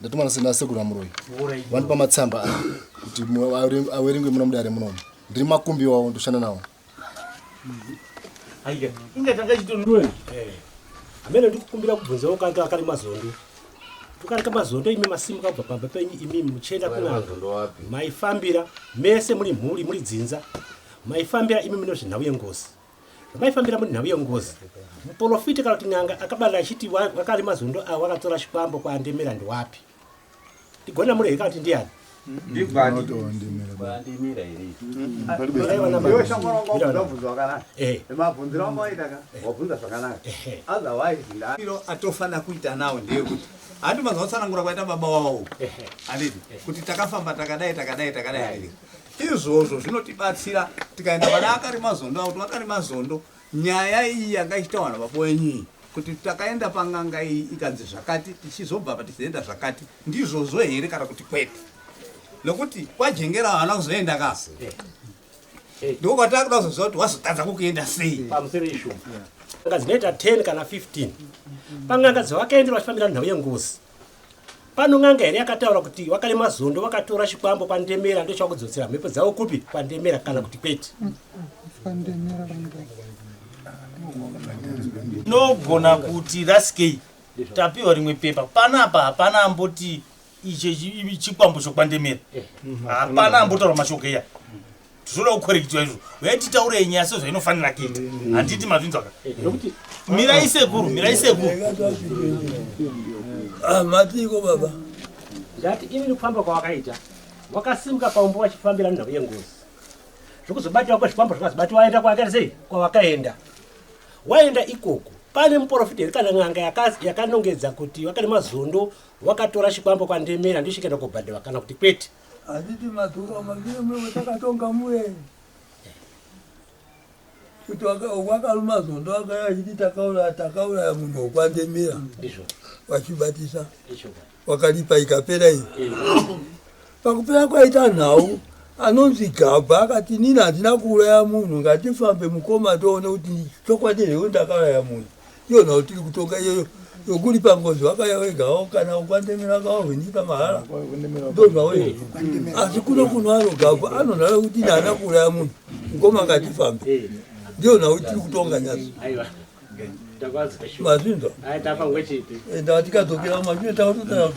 ndatuma nasina sekuru amuroyi vandipa matsamba aya kuti awerengwe muna mudare munomu ndiri makumbi wawo ndoshanda nawo inga tanga chitonue amene ndikukumbira kubvunzawo kange akari mazondo tukarika mazondo imi masimuka kubva pamba penyu imi muchienda kunavo maifambira mese muri mhuri muri dzinza maifambira imi mune zvenhau yengozi Zvamaifambira muri nhau yengozi. Muporofiti kana kuti n'anga akabada achiti wakari mazondo awo wakatora chikwambo kwaandemera ndiwapi. Ndigona muri here kana kuti ndiyani? atofana kuita nawo ndeyekuti handi mazvautsanangura kwaita baba wawo anditi kuti takafamba takadai takadai takadai Izvozvo zvinotibatsira tikaenda pana Akarimazondo apo Akarimazondo nyaya iyi yanga ichitaurwa baba wenyu iyi kuti takaenda panganga iyi ikanzi zvakati tichizobva apa tichizoenda zvakati ndizvozvo here kana kuti kwete nokuti kwajengera havana kuzoenda ka ndiko kwatava kuda kuzoziva kuti wazotadza kukuenda sei pamusoro ishu anga dzinoita 10 kana 15 panganga dzavakaendera vachifambira nhau yengozi Pano n'anga here yakataura kuti wakarema zondo wakatora chikwambo kwandemera ndochava kudzotsera mhepo dzavo kupi kwandemera kana kuti kwete nogona kuti raskei tapiwa rimwe pepa panapa hapana amboti ichi chikwambo chokwandemera hapana ambotaura mashoko iya tinoda kukorekitwa izvo uye titaurei nyaya sezvainofanira kuita handiti mazvinzwaka mirai sekuru mirai sekuru ah, matiiko baba ndati ini ndikufamba kwawakaita wakasimuka paumbo wachifambira nhau yengozi zvokuzobatiwa kwezvikwambo zvakazobatiwa waenda kwawakaita sei kwawakaenda waenda ikoko pane muporofita here kana n'anga yakanongedza kuti wakane mazondo wakatora chikwambo kwandemera ndosvikaenda kobhadhiwa kana kuti kwete Handiti madhura maviri mwewe takatonga muye kuti wakaruma zondo akaya achiti takauraya takauraya munhu wokwandemira vachibatisa wakalipa ikapera iyi pakupera kwaita nhau anonzi gabha akati nini handina kuuraya munhu ngatifambe mukoma toone kuti chokwadi here ndakauraya munhu iyo nhau tiri kutonga iyoyo yokuri pangozi wakaya wegawo kana ukwandemera kawo hwenyika mahara ndozvawo izvi asi kuno kuno anogagwa anonhara kuti naana kuuraya munhu mukoma ngatifambe ndiyo nhau tiri kutonga nyasi mazvinzwa enda tikadzokera mazvine taototaa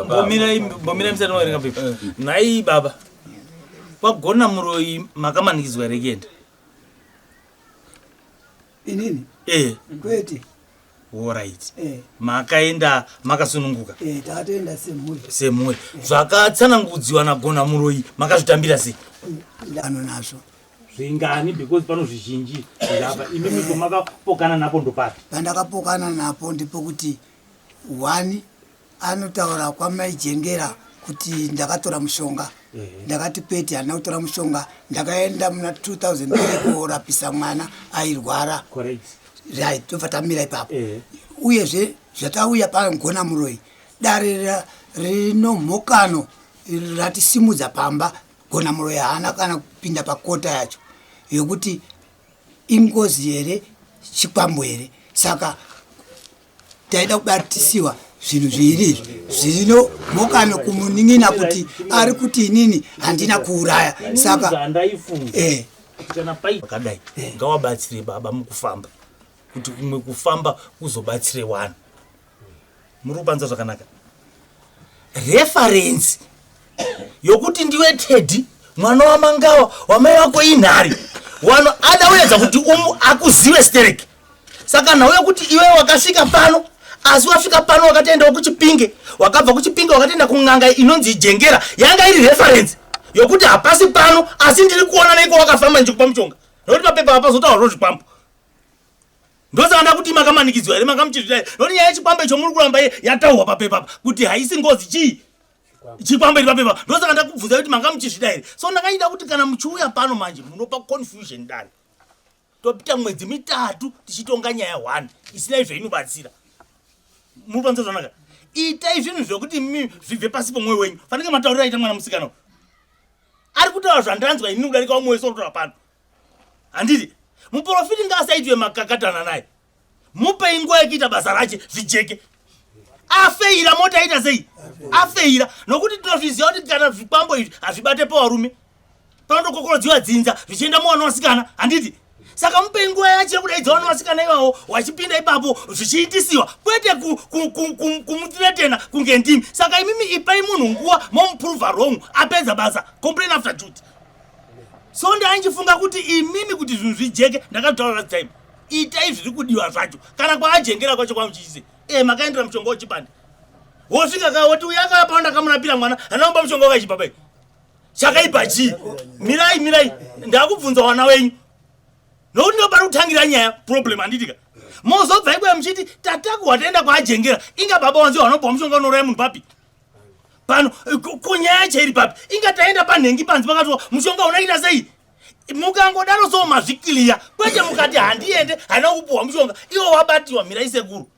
Bomirai, bomirai msana wa ringa bibi. Nai baba. kwagona muroyi makamanikidzwa here kuenda inini eh kwete orit eh. makaenda makasununguka eh, tatoenda semhuri semhuri eh. zvakatsanangudziwa nagona muroyi makazvitambira sei ndano nazvo zvingani because pano zvizhinji zvirapa imi miko makapokana napo ndopapi pandakapokana napo ndipo kuti one Anotaura kwamai Jengera kuti ndakatora mushonga ndakati kwete handina kutora mushonga ndakaenda muna 2000 korapisa mwana airwara right tobva tamira ipapo uyezve zvatauya pagona muroyi dare rinomhokano ratisimudza pamba gona muroyi haana kana kupinda pakota yacho yokuti ingozi here chikwambo here saka taida kubatisiwa zvinhu zviiri izvi zvino mokano kumunin'ina kuti ari kuti inini handina kuuraya saka eh. akadai eh. ngawabatsire baba mukufamba kuti kumwe kufamba kuzobatsire wani muri kupanza zvakanaka referensi yokuti ndiwe teddy mwana wamangawa wamai wako inhari wano ada uedza kuti umu akuzive stereki saka nhau yekuti iwe wakasvika pano asi wasvika pano wakatoendawo kuchipinge wakabva kuchipinge wakatoenda kun'anga inonzi ijengera yanga iri referensi yokuti hapasi pano asi ndiri kuona neiko wakafamba ndichikupa mushonga nokuti mapepa apazotaurwa zvikwambo ndosaka ndakuti makamanikidzwa here makamuchizvitai nokuti nyaya yechikwambo icho muri kuramba yataurwa papepa apa kuti haisi ngozi chii chikwambo iri papepa ndosaka ndakubvunza kuti makamuchizvida here so ndakanyida kuti kana muchiuya pano manje munopa confusion dani topita mwedzi mitatu tichitonga nyaya one isina izvo inobatsira muri panze zvanaka itai zvinhu zvekuti mi zvibve pasi pomwoyo wenyu fanike mataurira aita mwana musikana ari kutaura zvandanzwa ini kudarika umwe wese otora pano handiti muprofiti ngaasaitwe makakatana naye mupei nguva yekuita basa rache zvijeke afeira mota aita sei afeira nokuti tinozviziva kuti kana zvikwambo izvi hazvibate pavarume panotokokorodziwa dzinza zvichienda muvana vasikana handiti saka mupei nguva yacho yekudaidza vana vasikana ivawo wachipinda ipapo zvichiitisiwa kwete kumutiretena kunge ndimi saka imimi ipai munhu nguva momuprova wrong apedza basa complain after duty so ndainjifunga kuti imimi kuti zvinhu zvijeke ndakatotaura last time itai zviri kudiwa zvacho kana kwaajengera kwacho kwamuchiise e eh, makaendera mushonga wechibande wosvika ka woti uya akapa wandakamurapira mwana anaomba mushonga wakaichipa pai chakaipa chii mirai mirai ndakubvunza wana wenyu nokuti ndopari kutangira nyaya problem handitika mozobva ikuya muchiti tatakuhwa taenda kwaajengera inga baba wanzi wanopa mushonga unoraya munhu papi pano kunyaya chairi papi inga taenda panhengi panzi pakatiwa mushonga unaita sei mukangodaro so mazvikiliya kwete mukati handiende haina kupuhwa mushonga iwo wabatiwa mirai sekuru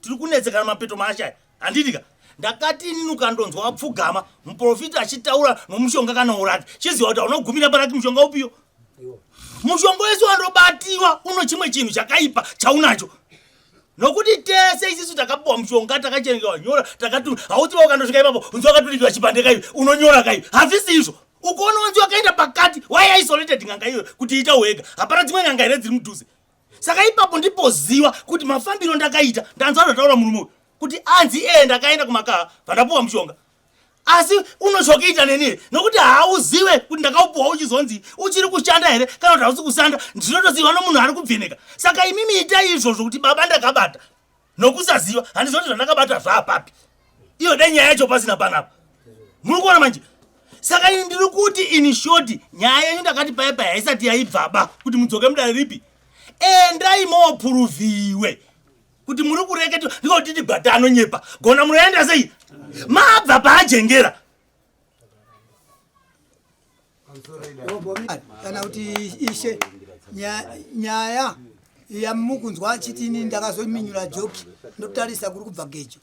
tiri kunetsekana mapeto maashaya handidika ndakati inini ukandonzwa wapfugama muprofita achitaura nomushonga kana uraki chiziva kuti haunogumira paraki mushonga upiyo mushonga wese wandobatiwa uno chimwe chinhu chakaipa chaunacho nokuti tese isisu takapiwa mushonga takachengewa nyora takatu hauti vaukandosvika ipapo unzi wakaturikiwa chipande kaivi unonyora kaivi hazvisi izvo ukoona wanzi wakaenda pakati why isolated n'anga iyoyo kuti ita wega hapana dzimwe n'anga here dziri mudhuze saka ipapo ndipoziva kuti mafambiro ndakaita ndanzi anotaura murume uyu kuti anzi ee ndakaenda kumakaha vandapuwa mushonga asi unochokiita neni nokuti hauzive kuti ndakaupuwa uchizonzi uchiri kushanda here kana kuti hausi kushanda ndinotoziva nomunhu ari kubveneka saka imimi itai izvozvo kuti baba ndakabata nokusaziva handiziva kuti zvandakabata zvaapapi iyo dai nyaya yacho pasina panapa muri kuona manje saka ini ndiri kuti ini shoti nyaya yenyu ndakati paye paye haisati yaibvaba kuti mudzoke mudare ripi endai moopuruviwe kuti muri kureketa ndikotiti gwata anonyepa gona munoenda sei mabva paajengera kana kuti ishe nyaya yamukunzwa achiti ini ndakazominyura joki ndotarisa kuri kubva gejo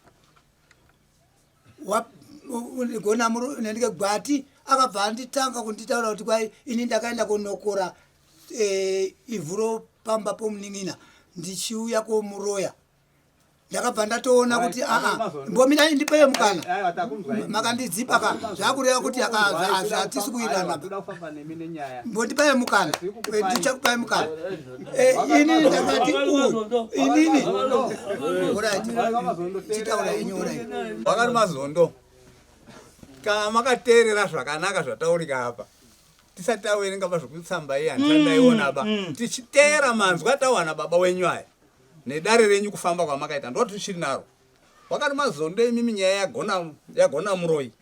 gona nendike gwati akabva anditanga kunditaura kuti kwai ini ndakaenda kunokora eh, ivhu ropamba pomunin'ina ndichiuya komuroya ndakabva ndatoona kuti aa mbomirai ndipeye mukana makandidzipa ka zvakureva kuti hazvatisi kuiranaa mbondipeye mukana ndichakupai mukana Eh, inini ndakati inini wakati mazondo kana makateerera zvakanaka zvataurika apa tisati tawerenga pa zvekutsamba iya ndisandaiona ba mm, mm. tichiteera manzwi atawana baba wenyu aya nedare renyu kufamba kwamakaita ndo tichiri naro wakati mazondo imimi nyaya yagona yagona muroyi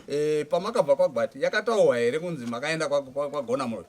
e, pamakabva kwagwati yakataurwa here kunzi makaenda kwagona muroyi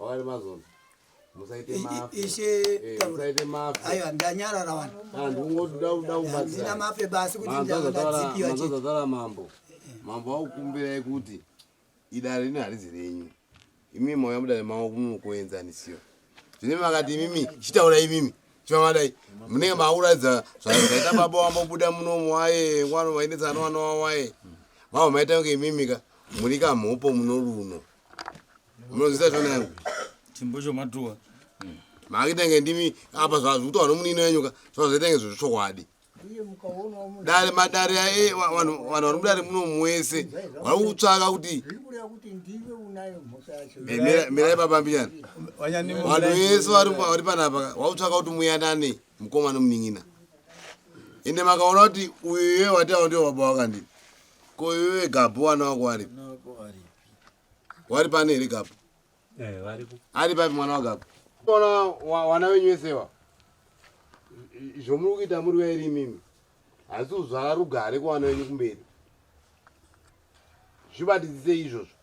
Awari mazonzi. Musaite mafe. Ishe eh, taura. Musaite mafe. Ayo ndanyarara wani. Ah, ndingoda kuda kubatsira. Ndina mafe basi kuti ndazadzipira. Ndazadzara mambo. Mambo akukumbirai kuti idare rino harizi renyu. Imi mauya mudare mawo kunokuenzanisira. Zvine makati imimi chitaura imimi. Chivavadai munenge mauradza zvaita baba wambobuda munomu waye wano vainetsa anowana wawaye. Mavo maita kunge imimika muri kamhopo munoruno. Munozita zvona yangu. Chimbo cho matuwa. Hmm. Makitenge ndimi apa zvazi kuti wano munino yenyu ka zvazitenge zvochokwadi. Dare madare aye vanhu vanhu vari mudare muno mwese vari kutsvaka kuti mirai baba mbinyana vanhu vese vari panapa vari kutsvaka kuti muyanane mukoma nomunin'ina ende makaona kuti uyu iye wati avo ndiwo baba wakandii ko iwe gabhu wana wako waripi wari pane here gapo eh, ari papi mwana wagapo ona wana wenyu wesewa zvomuri kuita muri vairi imimi hasi kuzvara rugare kuwana wenyu kumberi zvibatidzisei izvozvo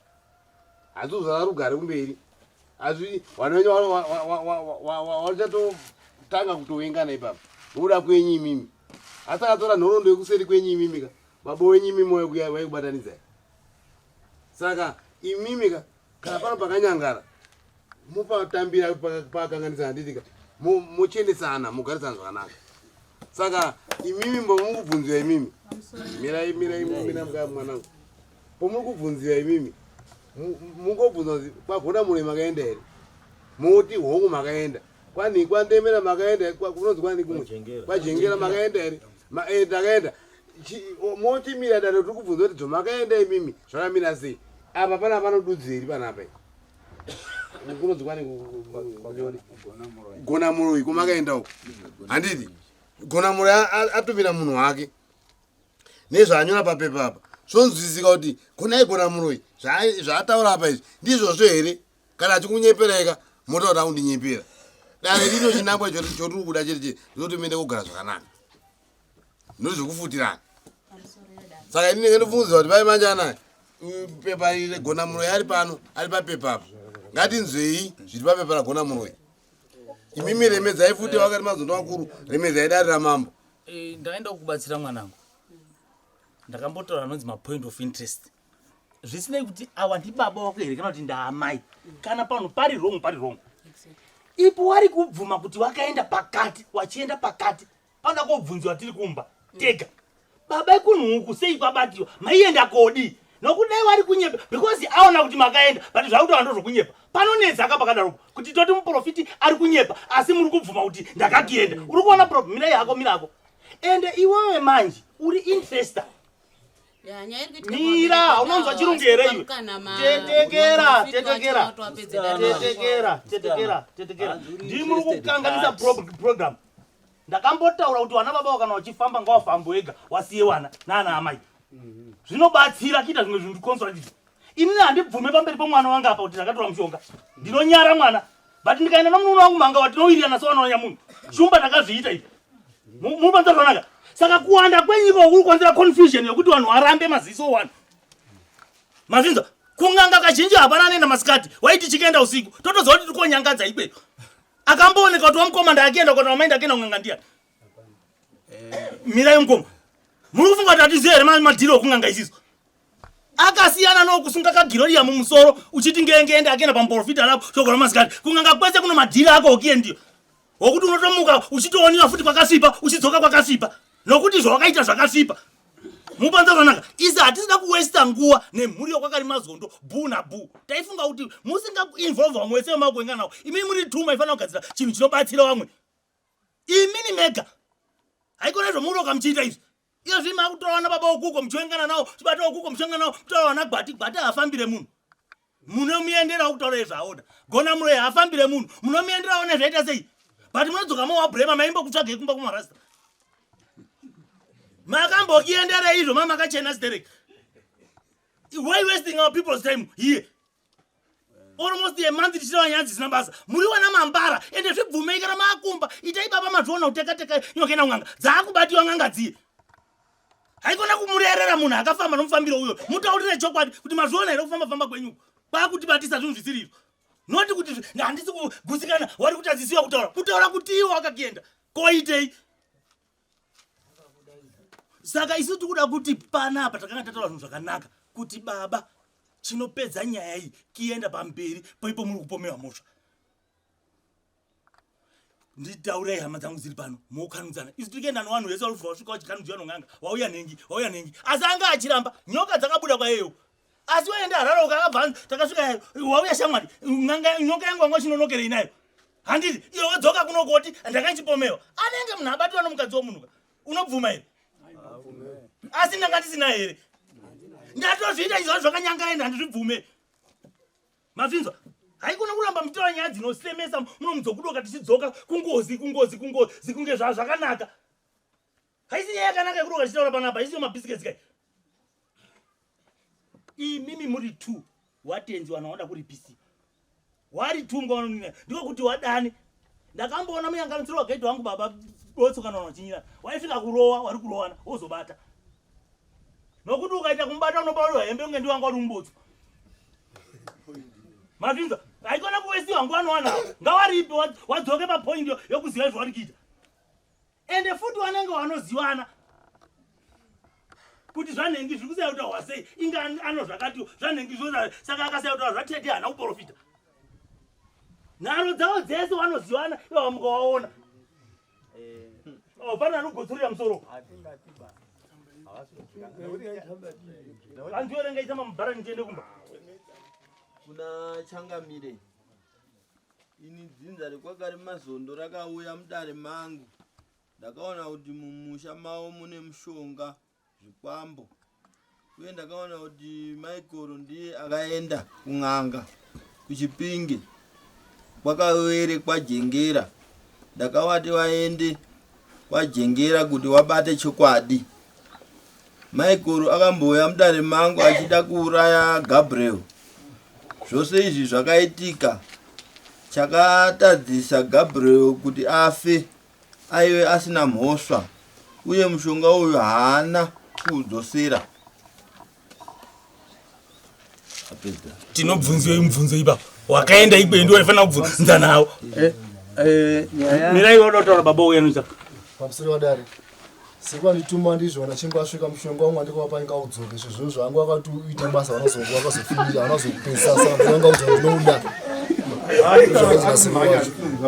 hasi kuzvara rugare kumberi asi wana wenyu wachatotanga kutowengana ipapa nokuda kwenyu imimi asi akatora nhorondo yekuseri kwenyu imimika baba wenyu imimi waikubatanidzai saka imimi ka kana pano pakanyangara mopatambira pakanganisa handiti ka mochiendesana mogarisana zvakanaka saka imimi mbomuri kubvunziwa imimi mirai mirai mina mukaya mwanangu pomuri kubvunziwa imimi mungobvunza kuti kwagona mune makaenda here moti hongu makaenda kwani kwandemera makaenda kunonzi kwani kumwe kwajengera makaenda here eh, ndakaenda motimira dano tiri kubvunza kuti dzomakaenda imimi zvakamira sei apa pana panodudzeri panapa kunonzwanigona muroyi komakaenda uko handiti gona muroyi atumira munhu wake nezvaanyora papepa apa zvonzwisisika kuti gonai gona muroyi zvaataura apa izvi ndizvozvo here kana achikunyeperaika motaura kundinyepera dare rino chinangwa chotiri kuda chete chete ndinotomenda kugara zvakanaka ndozvekufutirana saka ini ndinenge ndofungidzira kuti pai manje anaya pepa iri regona muroyi ari pano ari papepa apo ngatinzwei zviri papepa ragona muroyi imimi remedzai futi vakati mazondo vakuru remedzai dare ramambo eh, ndakaenda kukubatsira mwanangu ndakambotaura anonzi mapoint of interest zvisinei kuti awa ndibaba wako here kana kuti ndaamai kana pano pari wrong pari wrong ipo wari kubvuma kuti wakaenda pakati wachienda pakati Pana kobvunziwa tiri kumba tega. Baba ikunhu uku sei kwabatiwa? Maienda kodi? Nokudai wari kunyepa because aona kuti makaenda but zvakuti wando zvokunyepa. Panonetsa ka pakadaro kuti toti muprofiti ari kunyepa asi muri kubvuma kuti ndakakienda. Uri kuona problem mira yako mira yako. Ende iwewe manje uri investor. Mira, unonzwa chirungu here iwe? Tetekera, tetekera. Tetekera, tetekera, tetekera. Ndimuri kukanganisa program. ndakambotaura kuti vana baba kana vachifamba ngawafambe wega wasiye vana naana amai mhm. zvinobatsira kuita zvimwe zvinhu ndiconsolatiz inini handibvume pamberi pomwana wangu apa kuti ndakatora mushonga ndinonyara mwana but ndikaenda nomunono wangu manga vatinowirirana sevanonanya munhu shumba ndakazviita ivi munopanza zvanaka saka kuwanda kwenyika kuri kukonzera confusion yekuti vanhu varambe maziso one mazinza kunganga kazhinji hapana anoenda masikati waiti chikaenda usiku totoziva kuti tiri konyangadza ikweyo Akambooneka kuti wamukoma ndakienda kuti wamainda akienda kunganga ndiya. Eh. Mirai mukoma. Muri kufunga kuti atiziye here madhiri okunganga isiso? akasiyana nokusunga kagiroriya mumusoro uchiti ngengeende akenda pamuporofita rapo shoko ramasikati kunganga kwese kuno madhiri ako okiye ndiyo wokuti unotomuka uchitooniwa futi kwakasvipa uchidzoka kwakasvipa nokuti zvawakaita zvakasvipa mupanza zvanaka isi hatisina kuwesta nguva nemhuri yokwakari mazondo bhu nabhu taifunga kuti musingainvolve vamwe wese vemakuenga nawo imini muri tuma ifanira kugadzira chinhu chinobatsira vamwe imini mega haikona zvomuroka muchiita izvi iyo zvii makutora vana baba wokuko muchiengana nawo chibata wokuko muchiengana nawo mutora vana gwati gwati hafambire munhu munomuenderawo kutaura izvo aoda gona muroyi haafambire munhu munomuenderawo nezvaita sei but munodzoka mowabrema maimbokutsvagei kumba kumarasta makambokienderei izvo ma makachena sterek why wasting our people's time here almost a month tichitaura nyaya dzisina basa muri wana mambara ende zvibvumei kana maakumba itai baba mazviona kutekateka nyokaenda kun'anga dzaakubatiwa n'anga dziye haikona kumurerera munhu akafamba nomufambiro uyo mutaurire chokwadi kuti mazviona here kufamba famba kwenyu kwakutibatisa zvinhu zvisiriro noti kuti handisi kugusikana wari kutadzisiwa kutaura kutaura kuti iwo akakienda koitei saka isu tikuda kuti panapa takanga tataura zvinhu zvakanaka kuti baba chinopedza nyaya iyi kienda pamberi poipo muri kupomewa mhosva nditaurei hama dzangu dziri pano mokanudzana isu tiri kuenda newanhu vese varufu vasvika vachikanudzwa nonganga wauya nhengi wauya nhengi asi anga achiramba nyoka dzakabuda kwayeyo asi waenda harara ukakabva takasvika wauya shamwari nanga nyoka yangu wanga uchinonokerei nayo handiti iyo wadzoka kunokoti ndakaichipomewa anenge munhu abatirwa nomukadzi womunhuka unobvuma here asi ndanga ndisina here ndatozviita izvozvo zvakanyangaenda handizvibvume Mazvinzwa? haikona kuramba mutora nyaya dzinosemesa munomuzokudoka tichidzoka kungozi kungozi kungozi kunge zva zvakanaka haisi nyaya yakanaka yekudoka tichitaura panapa haisiyo mabhisikesi kai imimi muri two watenzi wana wada kuripisi wari two mkawanonina ndiko kuti wadani ndakamboona muyanganidziro wakaitwa wangu baba dotso kana wanachinyira waisvika kurowa wari kurowana wozobata nokuti ukaita kumubata unobauriwa hembe unge ndiwanga uri mumbotso mazvinza aikona kuvesiwa nguva anowana ngawaripi wadzoke papoindi yokuziva izvo wari kuita ende futi wanenge wanozivana kuti zvanhengi zviri kusaya kutaurwa sei inga ano zvakatiwo zvanhengi zvoa saka akasaya kutaura zvatete haana kuprofita nharo dzavo dzese wanozivana ivawa mukawaona eh. oh, pane anogotsorera musoro andiwerengaita mamubhara ndichiende kumba kuna changamire Ini dzinza rekwakari mazondo rakauya mudare mangu ndakaona kuti mumusha mavo mune mushonga zvikwambo uye ndakaona kuti maikoro ndiye akaenda kun'anga kuchipinge kwakawerekwa jengera ndakavati vaende Wajengera kuti wabate chokwadi. Maikoro akambouya mudare mangu achida kuuraya Gabriel. Zvose izvi zvakaitika chakatadzisa Gabriel kuti afe aive asina mhosva uye mushonga uyu haana kuudzosera. tinobvunzei mubvunzo ipapo wakaenda ikweyo ndiwo aifanira kubvunza nawo eh, eh, mirai wanotaura baba uya noita pamusiri wadare sekwandituma ndizvo vanachinge asvika mushonga wangu andikuvapa inga udzoke izvo zvinhu zvangu akati uita basa vanozofinira vanozokupesasa vanga udzoke ndinouda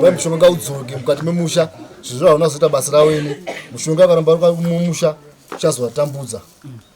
vai mushonga udzoke mukati memusha zvinhu zvavanozoita basa rawene mushonga akaramba mumusha uchazovatambudza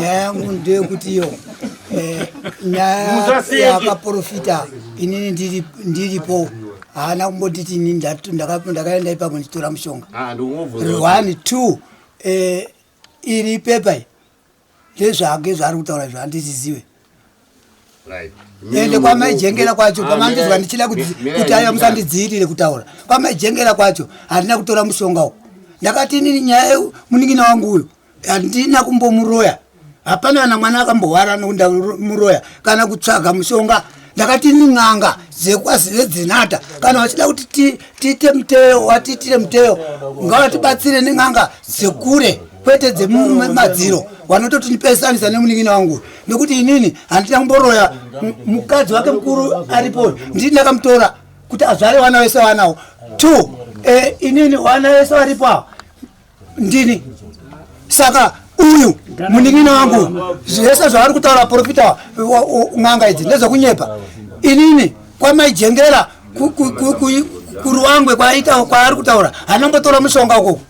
nyaya yangu ndeyekuti yo eh, nyaya yakaprofita inini ndiripo haana kumbonditi ini ndakaenda ipapo ndichitora mushonga ah, one two eh, iri pepa ndezvake zvaari kutaura izvo handizvizive ende kwamaijengera kwacho pamandizwa ndichida kuti aiwa musandidziirire kutaura kwamaijengera kwacho handina kutora mushonga uku ndakati inini nyaya yeu munin'ina wangu uyu handina kumbomuroya hapana kana mwana akambohwara nokundamuroya kana kutsvaga mushonga ndakati nin'anga dzekwazivedzinata kana vachida kuti tiite muteyo watiitire muteyo ngavatibatsire nin'anga dzekure kwete dzemumadziro wanototi ndipesanisa nemunin'ina wangu nekuti inini handina kumboroya mukadzi wake mukuru aripo ndii ndakamutora kuti azvare wana wese wanawo two eh, inini wana wese waripo awa ndini saka uyu munin'ina wangu zvese zvavari kutaura profita n'anga idzi ndezvekunyepa inini kwamaijengera kuruangwe kwaita kwaari kutaura anongotora mushonga ukoko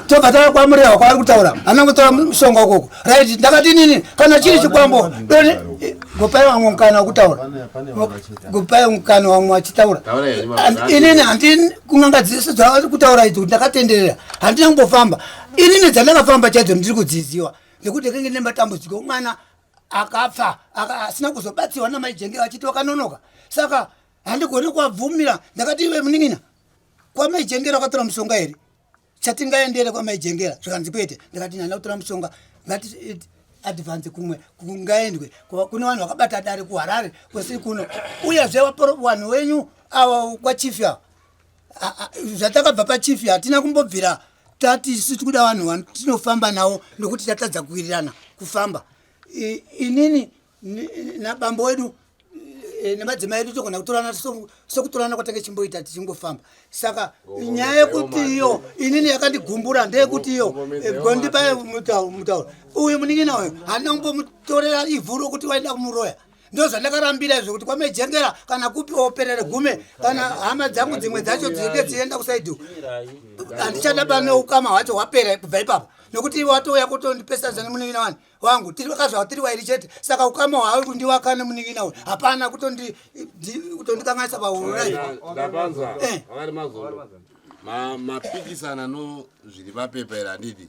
tobva tava kwamurehwa kwaari kutaura anongotora mushonga ukoko right ndakati nini kana chiri chikwambo doni gopai wamwe mukana wakutaura gopai mukana wamwe wachitaura inini handi kun'anga dzese dzavari kutaura idzo ndakatenderera handina kumbofamba inini dzandakafamba chaidzo ndiri kudziziwa nekuti kenge nematambudziko mwana akafa aka- asina kuzobatsirwa namai jenge vachiti wakanonoka saka handigoni kuwabvumira ndakati iwe munin'ina kwamai jengera wakatora mushonga here chatingaendere kwamai jengera zvikanzi kwete ndikati nyana kutora mushonga ngati it- advance kumwe kungaendwe Kwa- kune vanhu vakabata dare kuharare kwesiri kuno uyezve waporo- vanhu wenyu awa kwachifi awa zvatakabva pachief hatina kumbobvira tati isu tiri kuda vanhu vanu tinofamba navo nokuti tatadza kuwirirana kufamba inini nabambo wedu e, nemadzimai edu togona kutorana sokutorana kwatange chimboita tichingofamba saka nyaya yekuti iyo inini yakandigumbura ndeyekuti iyo gondipa e, mutauro uyu munin'ina uyu handina kumbomutorera ivhu rokuti waida kumuroya ndozvandakarambira izvo kuti kwamejengera kana kupi operere gume kana hama dzangu dzimwe dzacho dzinenge dzienda kusaidi handichada pane ukama hwacho hwapera kubva ipapa nokuti ivo watouya kutondipesanisa nemunin'ina wani wangu tiri vakazvava tiri wairi chete saka ukama hwawe kundiwaka nemunin'ina uyu hapana kutondikanganisa pauraivo eh. mapikisana no zviri papepa iri handidi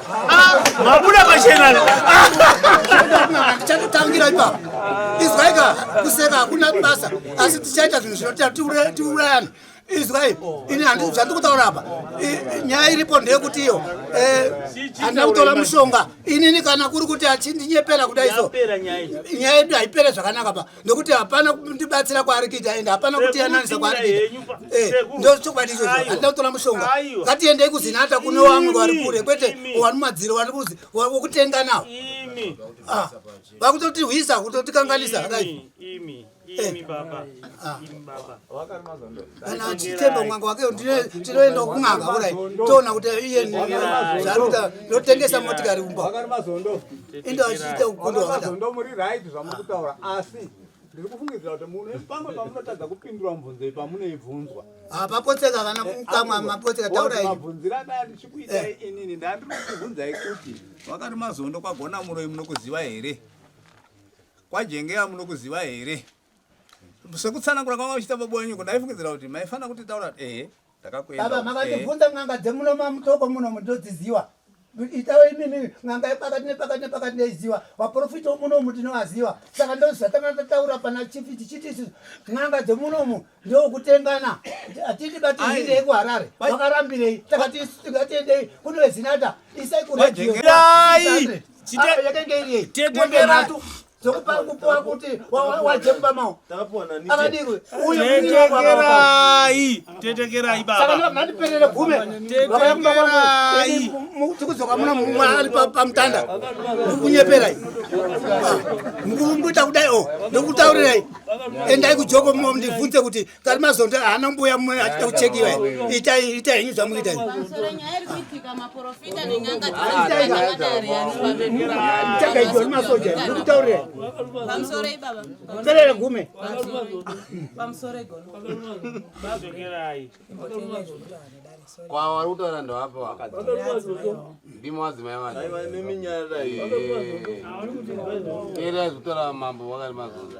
mabuda pachena chatotangira ipapo izwaika kuseka hakuna basa asi tichaita zvinhu zvinoita tiurayana izwai ini handii zvandiri kutaura apa nyaya iripo ndeyekuti iyo eh, handina kutora mushonga inini kana kuri kuti achindinyepera kudai so nyaya yedu haipere zvakanaka pa nokuti hapana kundibatsira kwaari kuita aenda hapana kutiyananisa kwaari kuita eh, ndo chokwadi ichocho handina kutora mushonga ngatiendei kuzinata kune wamwe vari kure kwete wani madziro wani kuzi wokutenga nawo ah, vakutoti hwisa kutotikanganisa akadai kana achitemba mwanga wake tinoenda kun'anga kurai toona kuti iye zvaarikuita ndotengesa motikari kumba enda achiita ukundo hwakadaomuriraizvamakutaura asi ndiri kufungidzira kuti mune pamwe pamunotadza kupindura mubvunzo iyi pamunoibvunzwa hapapotseka kana kukamwa mapotseka tauraimabvunzira adaya ndichikuitai eh. inini ndandiri kukubvunzai kuti wakati mazondo kwagona muroi munokuziva here kwajengeya munokuziva here sekutsanangura kwanga uchita baba wenyuko ndaifungidzira kuti maifanira kuti taura kuti ehe ndakakuendababa makatibvunza n'anga dzemuno mamutoko muno mundodziziwa itawo imimi n'anga yepakati nepakati nepakati ndaiziwa vaprofita womunomu tinovaziwa saka ndozvatanga tataura pana chifi tichiti isu n'anga dzemunomu ndokutengana hatiti batiirei kuharare vakarambirei takati isu tingatiendei kunovezinata isai kuredio yakenge iriei dzekupa kupuwa kuti waje kumba mawo akadirwe uyotekerai tetekerai baba mandiperere gume vakaya kumba kwangu tikudzoka muna mumwe ari pamutanda mukunyeperai mukumbuta kudai o ndokutaurirai endai kujoko ndibvunze kuti kari mazondo haana mbuya mwe achida kuchekiwa itai itai henyu zvamuita chakaiwa ni masoja ndikutaurira perere gume kwa wari kutaura ndovapo ndimo vadzimai vaneerera zvekutaura mambo wakari mazondo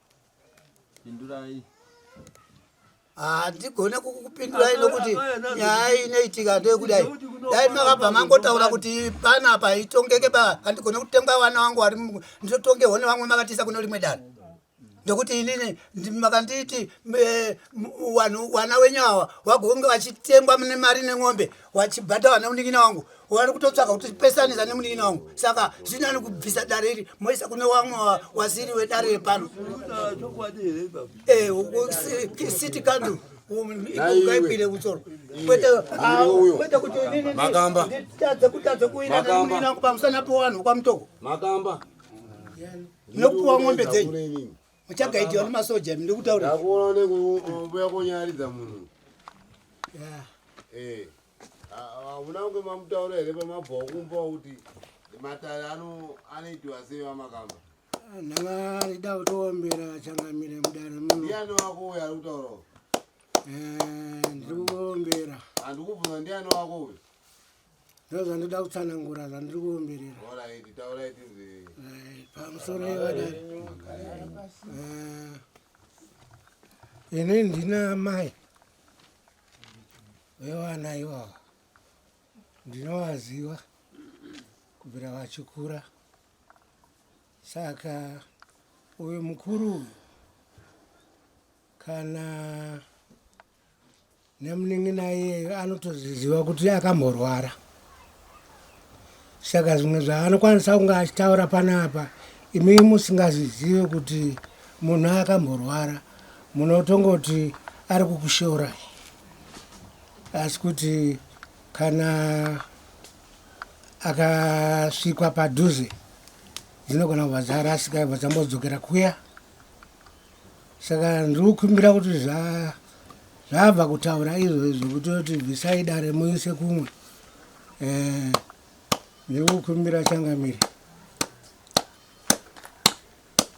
pindurai handigone ah, kukupindurai nokuti nyaya inoitika ndeyekudai dai makabva mangotaura kuti pana apa itongeke ba handigone kutenga vana wangu vari nditotongewo nevamwe makatiisa kune rimwe dano ndokuti inini makanditi eh, vana wenyu awa vagonge vachitengwa nemari nen'ombe wachibhadhawa nemunin'ina wangu wari kutotsvaka kuti pesanisa nemunin'ina wangu saka zvinani kubvisa dare iri moisa kune wamwe wasiri wedare repano eh, city council ukaipire kutsoro kwete ah, kuti ininiitadze kutadze kuina nemunin'ina wangu pamusana pewanhu kwamutoko nokupuwa ng'ombe dzenyu muchagaidiwa nemasoja ndiri kutaura ndakuona nekuuya konyaridza munhu eh, hauna kunge mamutaura here pamabva kumba kuti matare anoitiwa sei vamakamba ah, ndanga rida kutoombera changamire mudare munodiani wako uyo ari kutaurawo eh, ndiri kuombera handikubvunza ndiani wako uyo ndozvandoda kutsanangura zvandiri kuomberera eh, pamusoro ivadari eh, ini ndina mai vevana ivava ndinovaziva kubvira vachikura saka uyu mukuru uyu kana nemunin'ina iyeyo anotoziziva kuti akamborwara saka zvimwe zvaanokwanisa kunge achitaura panapa imi musingazizive kuti munhu akamborwara munotongoti ari kukushora asi kuti kana akasvikwa padhuze dzinogona kubva dzarasika ibva dzambodzokera kuya saka ndiri kukumbira kuti zva zvabva kutaura izvo izvo kuti kuti bvisai dare muise kumwe eh, ndiri kukumbira changamire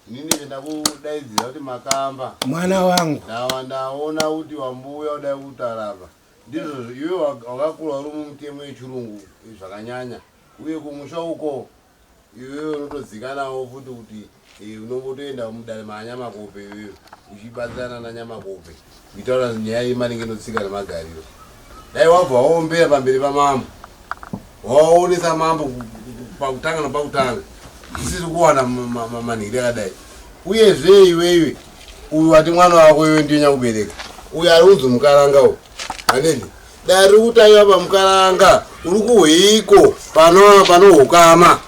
nini venda kudaidzira kuti makamba mwana wangu ndawa ndaona kuti wambuya udai kutarava ndizvo iwe wakakura uri mumutemo yechirungu zvakanyanya uye kumusha uko iwewe unotodzikanawo futi kuti eh, unongotoenda mudare maanyamakope iwewe uchibatsirana nanyamakope kuitaura nyaya yemaringe notsika nemagariro dai wabva waombera pamberi pamambo waonesa mambo pakutanga napakutanga tisiri kuwana manhiri akadai uyezve iweiwe uyu wati mwana wako iwe ndiyo nyakubereka uyu ari unzi mukaranga u haneni Dare riri kutaiwa pamukaranga uri kuhweiko pano pano hukama.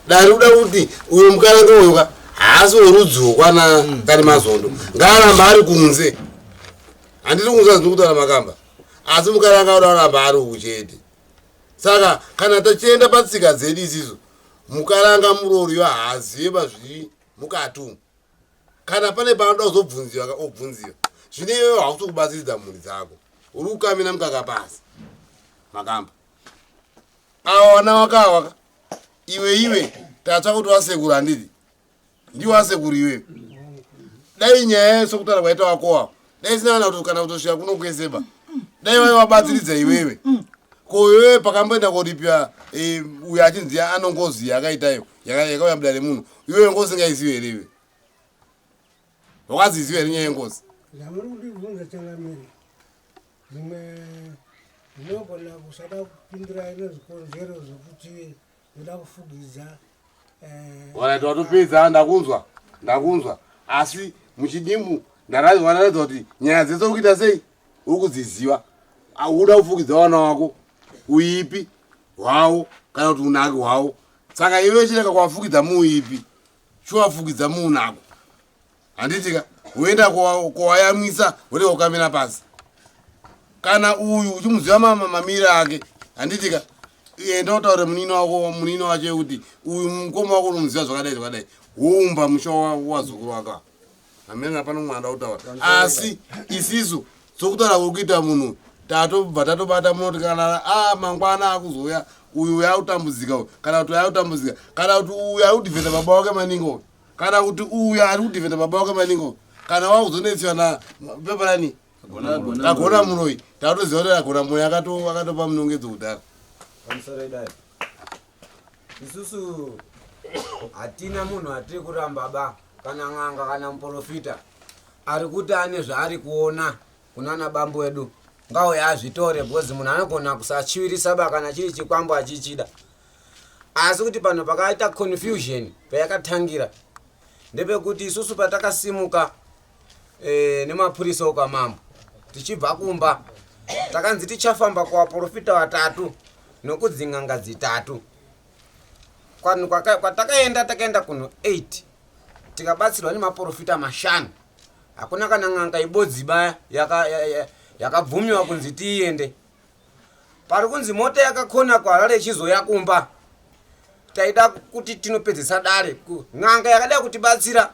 Dare riri kuda kuti uyo mukaranga uyo ka haasi werudzi wokwana kani mazondo. Ngaaramba ari kunze. Handiti kunze handiri kutaura makamba. Asi mukaranga uda kuramba ari uku chete. Saka kana tachienda patsika dzedu isisu mukaranga muroori uyo haazive pazviri mukati umu. kana pane panoda kuzobvunziwa ka obvunziwa zvine iwewe hausi kubatsiridza mhuri dzako uri kukamina mukaka pasi makamba awa wana wakawaka iwe iwe tatsva kuti wasekuru handiti ndiwasekuru iwewe dai nyaya yese kutaura kwaita wakowa dai zinaana kuti kana kutosvika kuno kwese ba dai vave vabatsiridza iwewe ko iwewe pakamboenda koripira eh, uyo achinzi anongozi yakaitayo yakauya buda remunhu iwewe ngozi ngaizive here iwe wakaziziva here nyaya yengozi zvamuri kundibvunza changamire zvimwe zvinogona kusada kupindira ine zvikonzero zvekuti Ndoda kufugidza. Eh, Alright, watopedza ndakunzwa. Ndakunzwa. Asi muchidimu ndaraiwa ndaratidza kuti nyaya dzese ukuita sei? Ukudziziva. Auda kufugidza wana wako. Uipi hwawo kana kuti unaki hwawo. Saka iwe chireka kwafugidza muuipi. chowafukidza muunako handitika woenda kowayamwisa woneka ukamira pasi kana uyu uchimuziva mamamira ake handitika enda utaure munini wako munini wacho yekuti uyu mukoma wako unomuziva zvakadai zvakadai woumba musha wazukuru wako hameno hapana umwe anoda kutaura asi isisu sokutaura kwekuita munhu tatobva tatobata munoti kana a mangwana akuzouya uyu uya akutambudzika uyu kana kuti uya akutambudzika kana kuti uyu ari kudhivhenda baba wake maningi uyu kana kuti uyu ari kudhivhenda baba wake maningi uyu kana wakuzonetswa na peparani agona muroyi tatoziva kuti agona muroyi akatopa munongedzo kudhara isusu hatina munhu atiri kuramba ba kana n'anga kana muprofita ari kuti ane zvaari kuona kunana bambo wedu ngauye azvitore bhozi munhu anogona kusachivirisa ba kana chiri chikwambo achichida asi kuti pano pakaita confusion payakatangira ndepekuti isusu patakasimuka eh, nemapurisa okwamambo tichibva kumba takanzi tichafamba kuvaprofita vatatu nokudzin'anga dzitatu kwanhu kwaka- kwatakaenda takaenda kunhu 8 tikabatsirwa nemaprofita mashanu hakuna kana n'anga ibodziba yaka- ya- ya- yakabvumiwa kunzi tiiende pari kunzi mota yakakona kuharare ichizoya kumba taida kuti tinopedzesa dare ku- n'anga yakada kutibatsira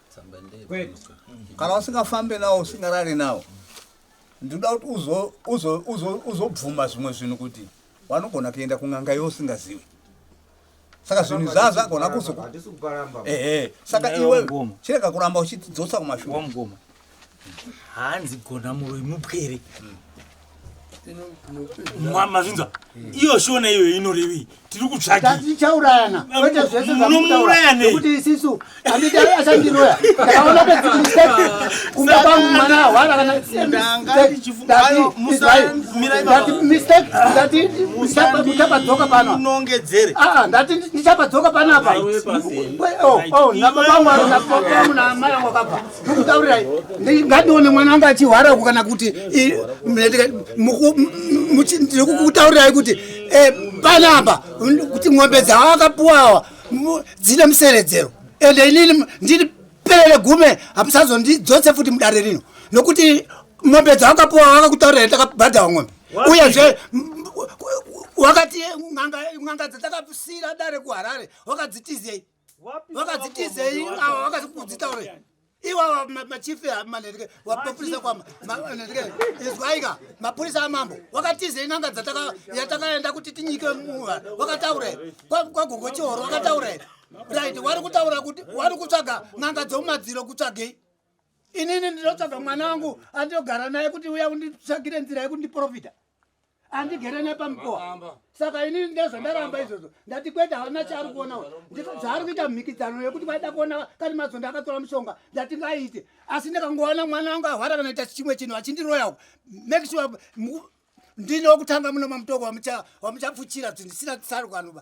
kana usingafambe nawo usingarari nawo ndinoda kuti uzobvuma zvimwe zvinhu kuti wanogona kuenda kun'anga yo usingazivi saka zvinhu izvazvo agona kuzoehe saka iwe chirega kuramba uchidzosa kumashure hanzi gona muroyi mupwere mazvinzwa iyo shona iyo inorevei tiri kutsvagiunomuurayanekuti isisu anditi achandiroya ndakaona kunga kwangu mwana ahwara kanamistapabdzoka panoongedzere aa ndati ndichapabdzoka panapa oh, oh, nababangu naamai angu akabva ndokutaurirai ngandione mwana anga achihwara uku kana kuti ndiri kukutaurirai kuti eh, panapa kuti ng'ombe dzavo akapuwawa dzine museredzero ende inini ndiri perere gume hamusazondidzose futi mudare rino nokuti ng'ombe dzavo akapuwa vakakutaurirai takabhadhawa ng'ombe uyezve wakati n'anga dzatakasira dare kuharare wakadzitizei vakadzitizei ava vakazikudzita uri iwawa machief manhereke wapopurisa kwama manhereke izwaika mapurisa amambo wakatizei n'anga dzatakaenda kuti tinyike muva wakataure kwagogo chihoro wakataure right wari kutaura kuti wari kutsvaga n'anga dzomumadziro kutsvagei inini ndinotsvaga mwana wangu andinogara naye kuti uya unditsvagire nzira yekuti ndiprofita andigere nepamukova saka ini ndezvo ndaramba izvozvo ndati kwete hauna chaari kuona dzaari kuita mhikidzano yekuti vaida kuona kani mazondo akatora mushonga ndati ngaite asi ndikangoona mwana wangu ahwara kana ita chimwe chinhu achindiroya uku make sure ndine wokutanga muno mamutoko wamuchapfuchira zvisina tsarukanoba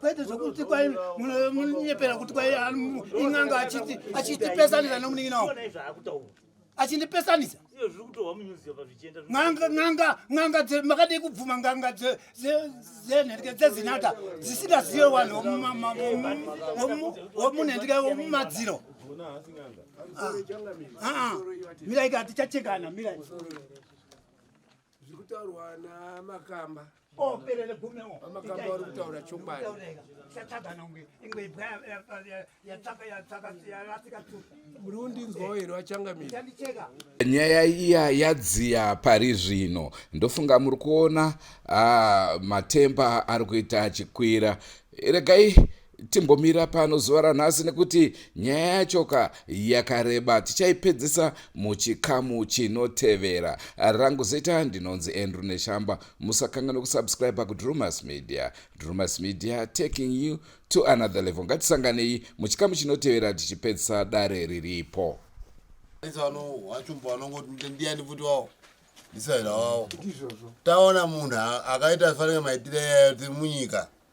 kwete zvekuti kwai munonyepera kuti kwai in'anga achiti achitipesanisa nomunin'ina wo achindipesanisa n'anga makadii kubvuma n'anga dzenherke dzezinata dzisingazive vanhu womunhendke womumadziro ah, ah, ah. miraika tichachekana mirai zviri kutaurwa namakamba operere gume o amakamba vari kutaura chokwadi muri kundinzwawo here vachangamira nyaya iya yadziya pari zvino ndofunga muri kuona ah, matemba ari kuita achikwira regai timbomira pano zuva ranhasi nekuti nyaya yachoka yakareba tichaipedzisa muchikamu chinotevera rangu zita ndinonzi andrew neshamba musakanga nekusubscribe kudrumas media drumas media taking you to another level ngatisanganei muchikamu chinotevera tichipedzisa dare riripo taona munhu akaita fanira maitire munyika